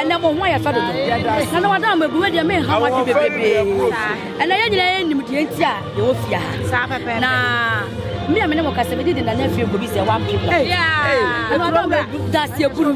ɛnɛ mo ho ayɛ fɛ dodo na na wada mo abuwe deɛ me nha mo ade bebrebe ɛnɛ yɛ nyinaa yɛnim deɛ nti a yɛwɔ fie ha na me a me ne mo kasa mede de nana afie gobi sɛ wampem no ɛna wada mo abu daseɛ buru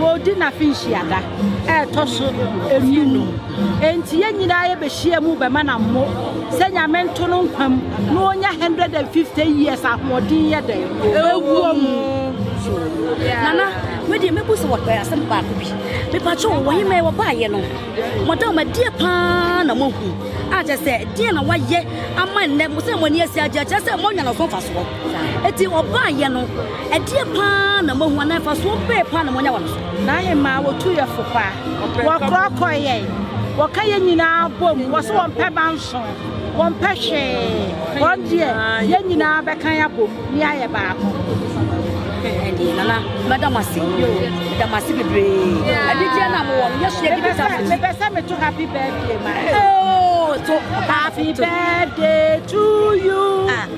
Wɔredi n'afenhyia da a ɛtɔ so nnum. Enti yɛn nyinaa yɛbɛhyia mu bɛma no ammo sɛ Nyame nto no nkwa mu na ɔnya 150 years ahoɔden yɛ dɛn? Ɛwɔ mu. Nana, me deɛ mɛbu sɛ wɔpɛ asɛm baako bi. Mepakyɛ wo, wɔhe mɛ wɔbaayɛ no? Madam, ɛdeɛ paa na moahu? A kyɛ sɛ, deɛ na wayɛ ama nnɛ sɛ mo ani asi agye akyerɛ sɛ moanya no so mfasoɔ? Eti wɔbaayɛ no, Ɛdeɛ paa na moahu anaa mfasoɔ bɛɛ paa na moanya wɔ me so? N'ahemmaa wɔtu yɛ fo paa, wɔkorɔkorɔ yɛn, wɔka yɛn nyinaa bom, wɔ so wɔmpɛ ba nso, wɔmpɛ hwee, wɔn deɛ yɛn nyinaa bɛkan abom ne ayɛ baako. Ɛdeɛ nana mɛda mo ase yo mɛda mo ase bebree anigyeɛ na mowɔ no yɛsua de bisa mo mepɛ sɛ meto happy birthday ma oh so happy birthday to you ah.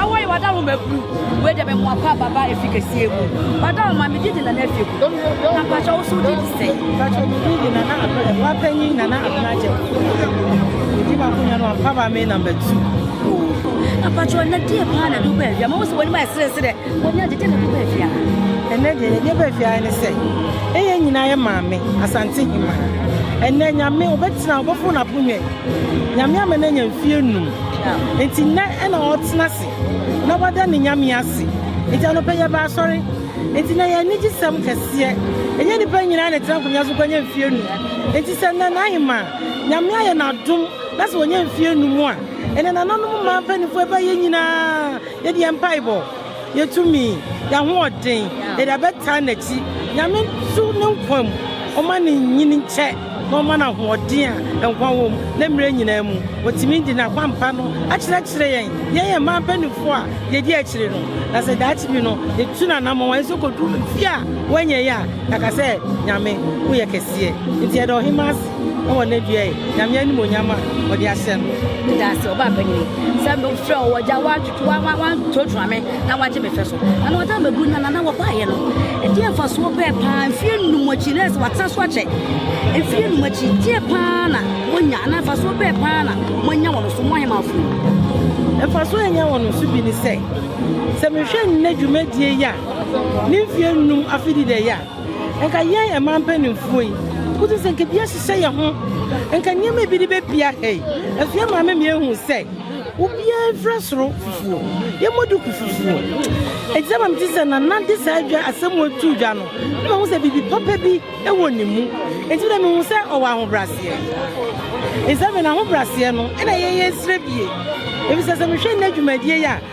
Awɔ yi wada wo maburu wei deɛ bɛmoa pa baba ɛfi kɛseɛ mu wada wo ma megye di nana afie ku na mpakyɛ wo so wogye di sɛ mpakyɛ megye di nana wapanyin nana abena gyɛ ɛdi baako nya no ampa ba me number two mpakyɛ ɔnɛ deɛ paa na de wobaa awia ma wo sɛ w'anim ayɛ serɛserɛ Wɔnya gyegye ne ho baabi a. Ɛnɛ deɛ yɛnyɛ baabi ara ne sɛ ɛyɛ nyinaa yɛ maame Asante Hima. Ɛnɛ Nyame ɔbɛtena ɔbɔfo n'aponnwa yi. Nyame ama no anya mfeɛ num. Nti nnɛ ɛna ɔretena ase na wada ne Nyame ase. Nti anɔpa yi yɛba asɔre. Nti na yɛn anigye sɛm kɛseɛ. Ɛnyɛ nipa nyinaa na ɛtena nkonnwa so kɔnya mfeɛ num. Nti sɛ nnɛ Nana Hima Nyame ayɛ no adom na sɛ wanya mfeɛ num a ɛnɛ nananom mmaa mpanimfoɔ ɛbɛyɛ nyinaa. Yɛde yɛn mpaebɔ, yɛn tumi, yɛn ahoɔden, yɛde abɛtaa n'akyi. Nyame nso ne nkwa mu, ɔma ne nyin nkyɛ na ɔma no ahoɔden a nkwa wom ne mmerɛ nyinaa mu. Ɔtumi de n'akwampa no akyerɛkyerɛ yɛn, yɛn yɛn mmaa mpanimfoɔ a yɛdi akyire no. Na sɛ daakye bi no yɛtu n'anammɔn a yɛnso kɔduru fie a wanyɛeɛ a, yɛaka sɛ, Nyame, woyɛ kɛseɛ. Nti yɛda Ɔhemaa ase. Na wɔn adua yɛ Nyame animonyam a ɔde ahyɛ no. Meda ase, ɔbaa panyin yi, sɛ mefrɛ wo wɔ gya woatwitwi woantuatua me na woagye me fɛ so. Na na ɔda mɛbu na nana wɔbaeɛ no. Ɛdeɛ mfasoɔ bɛɛ paa mfeɛ nnum akyi na ɛsɛ watena so akyɛ. Mfeɛ nnum akyi deɛ paa na monya anaa mfasoɔ bɛɛ paa na moanya wɔn so mo ahemafo yi. Mfasoɔ a ɛnya wɔn so bi ne sɛ sɛ mehwɛ nnɛ dwumadie yi a ne mfeɛ nnum afididɛeɛ a Nka yɛn ɛman mpaninfoɔ yi koto sɛ nka bi ahyehyɛ yɛn ho nka nneɛma bi de bɛpia ha yi ɛso yɛ maame mi ehu sɛ obiara mfira soro fufuo yɛmmɔ duku fufuo ɛti sɛ maame ti sɛ nana de saa dwa asɛm mu atu dwa no na mahu sɛ biribi papa bi ɛwɔ ne mu ɛti dɛ mehu sɛ ɔwɔ ahobraseɛ nsɛmɛ na ahobraseɛ no ɛna yɛyɛ nsrɛ bie ebi sɛ sɛ mehwɛ nna dwumadie yi a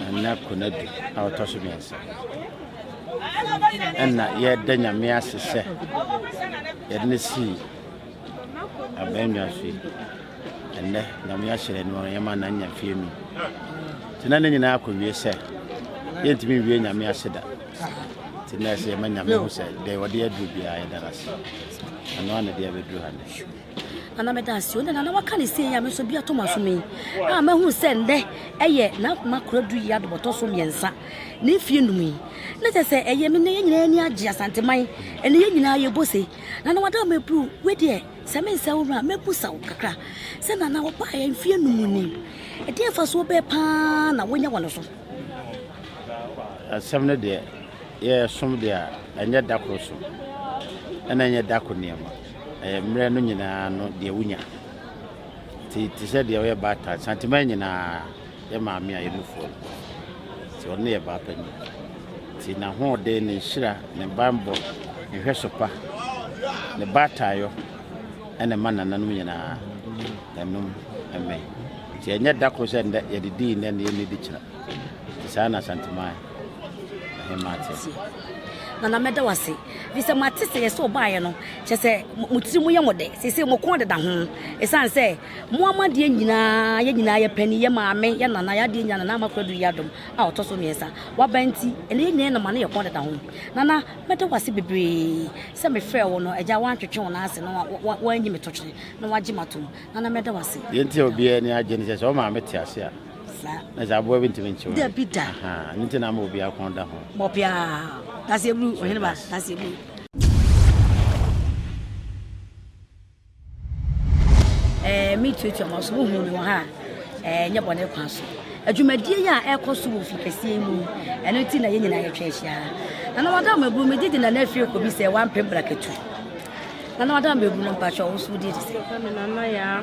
Ɛnnɛ Konadu a ɔtɔ so mmiɛnsa. Ɛna yɛda Nyame ase sɛ yɛde no sii abɛnnwa so yi. Ɛnnɛ Nyame ahyerɛ no wɔn yɛma na nya fie mi. Tena ne nyinaa akɔwie sɛ yɛntumi nwie Nyame ase da. Tena ɛsɛ yɛma Nyame ho sɛ deɛ wɔde aduru biara yɛda no ase. Ɛno a na deɛ bɛduru ha no. Nana meda ase o. Nana waka ne sie yi a me nso bi ato m'asom yi a mahu sɛ nnɛ ɛyɛ n'akoma koradu yi adobɔtɔ so mmiɛnsa ne mfie num yi na kyɛ sɛ ɛyɛ me ne yɛn nyinaa ani agye asanteman ɛne yɛn nyinaa yɛbɔ se nana wada mɛburu we deɛ sɛ me nsɛ wo ho a mɛbu sa wo kakra sɛ nana wɔbaa yɛn mfie num ni ɛdeɛ fa so bɛɛ paa na wonya wɔ no so asɛm no deɛ yɛsom deɛ a ɛnyɛ da koro so ɛna ɛnyɛ da ko nneɛma mmerɛ no nyinaa no deɛ wonya nti te sɛ deɛ ɔyɛ baatan santima nyinaa yɛ maame a yɛnufoɔ no nti ɔno yɛ baapani nti n'ahoɔden ne nhyira ne bammɔ ne hwɛ so pa ne baataayɔ ɛna ma nananom nyinaa ɛnom ɛmɛ nti ɛnyɛ da koro sɛ ndɛ yɛde dii ndɛ ne yɛnni di kyerɛ Enti saa na Asanteman Ahemaa te. Te. Nana, mɛda wo ase. Ɛfiri sɛ mate sɛ yɛ sɛ ɔbaeɛ no, kyɛ sɛ mo tiri mu yɛ mo dɛ. Seesei mo kɔn deda ho. Ɛsiane sɛ mo ama adeɛ nyinaa, yɛ nyinaa yɛ panin, yɛ maame, yɛ nana, yɛ adeɛ nyinaa, Nana Ama Kura Aduru Yiadom a ɔtɔ so mmiɛnsa, waba nti, ɛnnɛ yɛ nyinaa yɛ nɔma na yɛ kɔn deda ho. Nana, mɛda wo ase bebree sɛ mefrɛɛ wo no, agya woantwetwe wo nan ase na woanyi me totwene na woagye m'atom. Nana, mɛda wo ase. Deɛ nti a obiara ani agye ne sɛ, sɛ ɔmaame te ase a, Saa. Na sɛ aboa bi ntumi nkyew. Dabi da. Aha, ne nti na ama obiara kɔn da ho. Bɔ biara. Dase eburu, ɔhene ba, dase eburu. Eh, me tuatua ma so wo hu me wɔ ha. Eh, nyɛ bɔne kwan so. Adwumadie yi a ɛkɔ so wɔ fikɛseɛ mu, ɛno nti na yɛn nyinaa yɛtwa ahyia. Na na wada mɛbu, megye di na na afie kɔ bi sɛ wampem brakatu. Na na wada mɛbu no mpakyɛ wo so wodi de sɛ. Nana ya.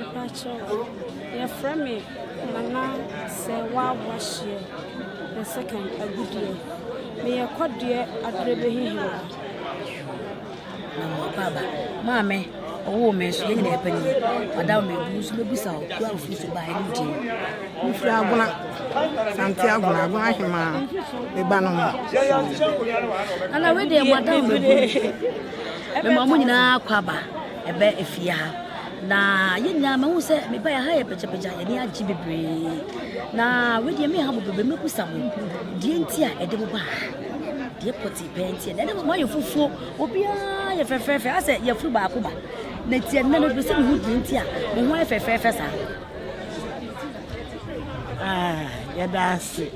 Mpakyɛw yɛfrɛ me Nana Sewaa Boahyeɛ the second Agudeɛ. Meyɛ Kɔdeɛ Aderebehi Hene. Na mmoako aba. Maame, ɔwoo me nso, yɛn nyinaa pɛ ni. Ɔda wo mɛbu nso mɛbusa wo, kura ofiri so baa ɛne din. Mefiri Agona, Sante Agona, Agona Hemaa, me ba no ho. Ana wei deɛ mada wo mɛbu. Mema mo nyinaa kɔ aba. ɛbɛ efie ha na yɛn nyinaa mahu sɛ meba yɛ ha yɛ pagyapagya yɛn ani agye bebree na wedeɛ me ha bebrebe mɛbusa mo deɛ nti a ɛde mo ba ha deɛ pɔte pɛɛ nti ɛna ɛde mo ayɛ fufuo obiara yɛ fɛfɛɛfɛ asɛ yɛfiri baako ba na tiɛ nna no bɛsɛ mehu deɛ nti a mo ho ayɛ fɛfɛɛfɛ saa ah, yɛda ase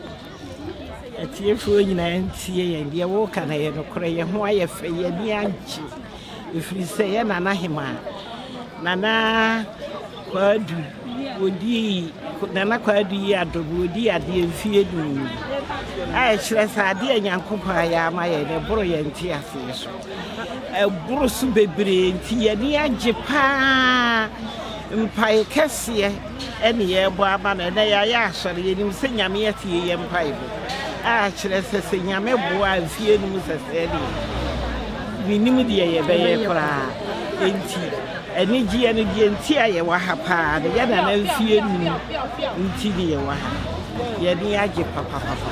Atiefoɔ nyinaa ntie yɛn, deɛ woreka no yɛ nokorɛ, yɛn ho ayɛ fɛ, yɛn ani agye, ɛfiri sɛ yɛn nana hemaa, Nana Kwaadu, wɔdii Nana Kwaadu yi adom, wɔdii adeɛ mfie du mu, a ɛkyerɛ sɛ adeɛ a Nyankopɔn ayɛ ama yɛn no ɛboro yɛn nte aseɛ so, ɛboro so bebree nti yɛn ani agye paa. Mpae kɛseɛ ɛne yɛɛbɔ ama no ɛnɛ yɛayɛ asɔre yɛnim sɛ Nyame atie yɛn mpaebɔ a kyerɛ sɛ sɛ Nyame boa a mfie no mu sɛsɛɛ deɛ menim deɛ yɛbɛyɛ koraa enti anigyeɛ no deɛ nti a yɛwɔ ha paa no yɛ nana mfie num nti ne yɛwɔ ha yɛne agye papapapa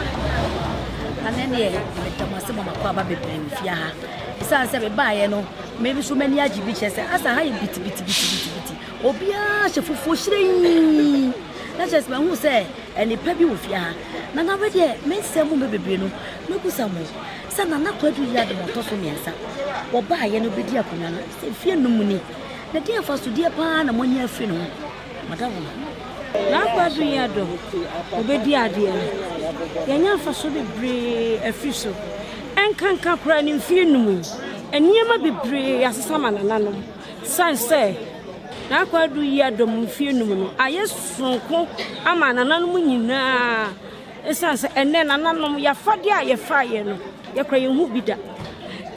ɛne neɛ meda mo ase ma makɔ aba bebree mfie ha ɛsiane sɛ mebaeɛ no Me nso m'ani agye bi kyerɛ sɛ asa ha yɛ bitibitibitibiti obiara hyɛ fufuo hyerɛnyi na kyerɛ sɛ mahu sɛ nnipa bi wɔ fie ha na na wedeɛ me nsɛm mu bɛ bebree no mɛbusa mo sɛ nana kwadu yi adom ɔtɔ so mmiɛnsa wɔbaayɛ no bɛdi akonnwa no sɛ fie num ni na deɛ mfasodeɛ paa na moanya afiri no ho Madam n'akwadu yɛ dɔ, obedi adeɛ no, yɛanya mfasoɔ bebree afiri so. Ɛnkanka koraa ne mfeɛ num yi, nneɛma bebree asesa ma nananom. Sane sɛ n'akwadu yɛ dɔ mu mfeɛ num no ayɛ soronko ama nananom nyinaa. Esiane sɛ ɛnnɛ nananom yafade a yɛfaeɛ no yɛkora yɛn ho bi da,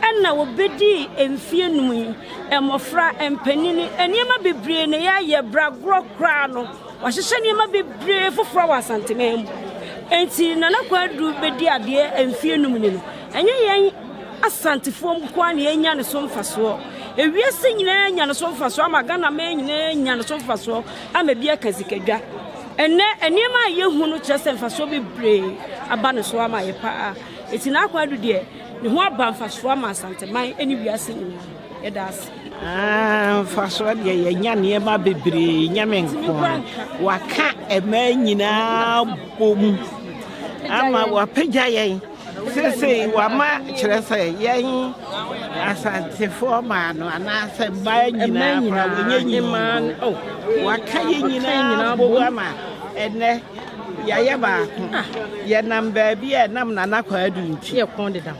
ɛna wɔbɛdii mfeɛ num yi, mmɔfra, mpanini, nneɛma bebree na yɛayɛ bragorɔ koraa no, wɔahyehyɛ nneɛma bebree foforɔ wɔ Asanteman mu. Enti Nana Kwadu bɛdi adeɛ mfeɛ num ni no, ɛnyɛ yɛn Asantefoɔ nkoa na yɛnya ne so mfasoɔ. Ewiase nyinaa nya ne so mfasoɔ ama Ghana man nyinaa nya ne so mfasoɔ. ama bi aka sikadwa. Ɛnnɛ, nneɛma a yehu no kyerɛ sɛ mfasoɔ bebree aba ne so ama yɛ paa. Eti n'akwan adu deɛ, ne ho aba mfasoɔ ama Asanteman ne wiase nyinaa. Yɛda ase. Ah, mfasoɔ deɛ yɛnya nneɛma bebree nyame nko a waka ɛmaa nyinaa bom ama wapagya yɛn Seesei wama kyerɛ sɛ yɛn Asantefoɔ maa no anaasɛ mmaa nyinaa koraa wɔnyɛ nyinaa oh, waka yɛ nyinaa bogu ama ɛnɛ yɛayɛ baako ah. yɛnam baabi a ɛnam nana kwaadu nti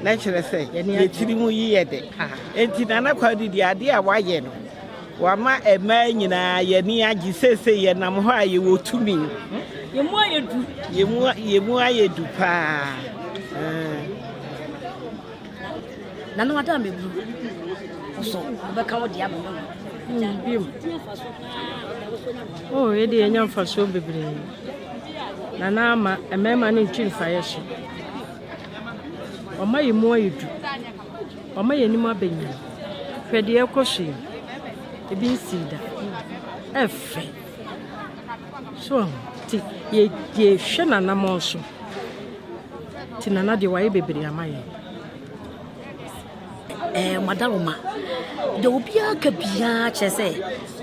na kyerɛ sɛ yɛtiri mu yi yɛ de ah. enti nana kwaadu deɛ adeɛ a wayɛ no Wama mmaa nyinaa yɛn ani agye. Seesei yɛnam hɔ a yɛwɔ tumi. Yɛn mu ayɛ du. Yɛn mu, yɛn mu ayɛ du paa. Nana wada a mɛbu wo so wobɛka wo deɛ ama no hmm, bio. O oh, yɛde yɛnya mfasoɔ bebree. Nana ama mmarima no ntwi mfaeɛ so. Ɔma yɛn mu ayɛ du. Wama yɛn anim aba nyini. Hwɛ deɛ ɛrekɔ so yi. Ebi nsii da. Ɛfɛ. So ɔho. Ti yɛ yɛ hwɛ n'anamɔn so. Ti nana deɛ wayɛ bebree ama yɛn. Ɛɛ madaroma. Deɛ obiara ka biara kyerɛ sɛ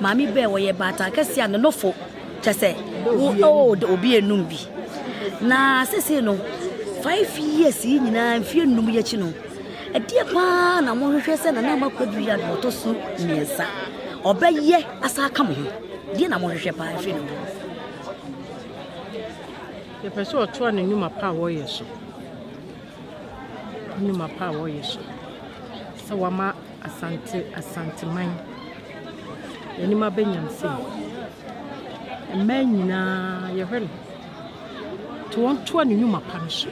maame bɛɛ wɔyɛ baatan kɛseɛ a ne nofo. Kyɛ sɛ wo oh de obi enum bi na sese no five years yi nyinaa mfie enum yi akyi no ɛdeɛ paa na mohwehwɛ sɛ nana ama kwadu yɛ na ɔtɔ so mmiɛnsa ɔbɛyɛ asa aka mo ho deɛ na mohwehwɛ paa mfie enum yɛpɛ sɛ ɔtoa ne nnwuma pa a wɔyɛ so nnwuma pa a wɔreyɛ so sɛ wɔama Asante Asanteman anim aba nyamsɛm mu. Mmaa nyinaa yɛhwɛ no nti wɔntoa ne nnwuma pa no so,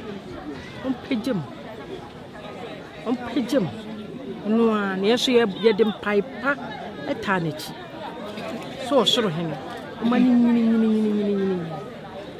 wɔmpagya mu, wɔmpagya mu. Ɛno ara na yɛn nso yɛde mpae pa taa n'akyi sɛ ɔsoro hene, ɔma no nyini nyini nyini nyini.